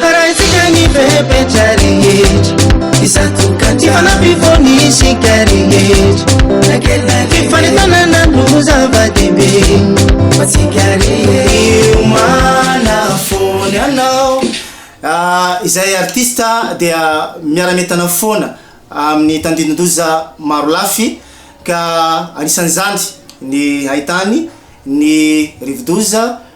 Haraintsika ny fepetra rehetra Izato ka tsy fanampy foana isika rehetra Na kely na lehibe Fifanentanana no zava-dehibe Ho antsika rehetra Miomana foana ianao Ah, izay artista dia miara-mientana foana amin'ny tandindoza maro lafy ka anisan'izany ny haitany, ny rivodoza,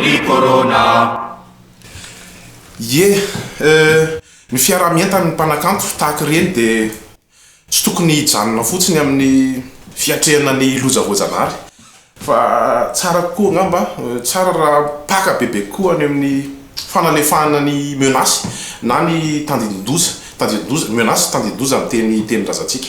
ry Corona ah. Ie eh, ny fiaraha-mientan'ny mpanakanto tahaka ireny dia tsy tokony hijanona fotsiny amin'ny fiatrehana ny loza voajanahary fa tsara kokoa angamba, tsara raha mpaka bebe kokoa any amin'ny fanalefahana ny menaces na ny tandindoza, tandindoza, menaces, tandindoza ny teny, tenin-drazantsika.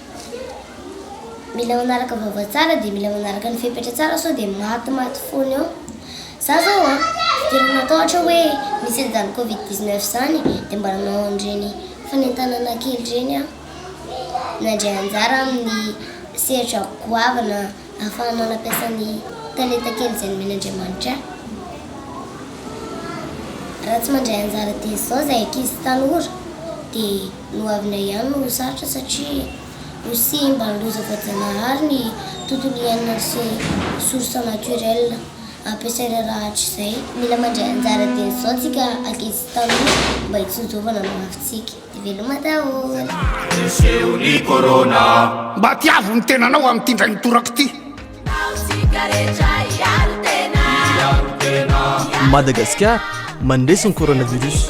mila manaraka vava tsara dia mila manaraka ny fepetra tsara sao dia maty maty foana eo za zao a tsy dia matahotra hoe misy an'izany covid 19 izany dia mba nanao an'ireny fanentanana kely ireny aho nandray anjara amin'ny sehatra goavana Ahafahana nampiasa ny talenta kely izay nomeny Andriamanitra ahy. Raha tsy mandray anjara dia izao izay ankizy tanora dia ny ho avinay ihany no ho sarotra satria ho simba ny loza voajanahary ny tontolo iainana sy source naturel ampiasay rarahatra izay. Mila mandray anjara dia izao tsika ankizy tanora mba hitsinjovana ny hoavintsika. dia veloma daholo. Mba tiavo ny tenanao amin'ity indray mitoraka ity. Madagascar mandresy ny coronavirus.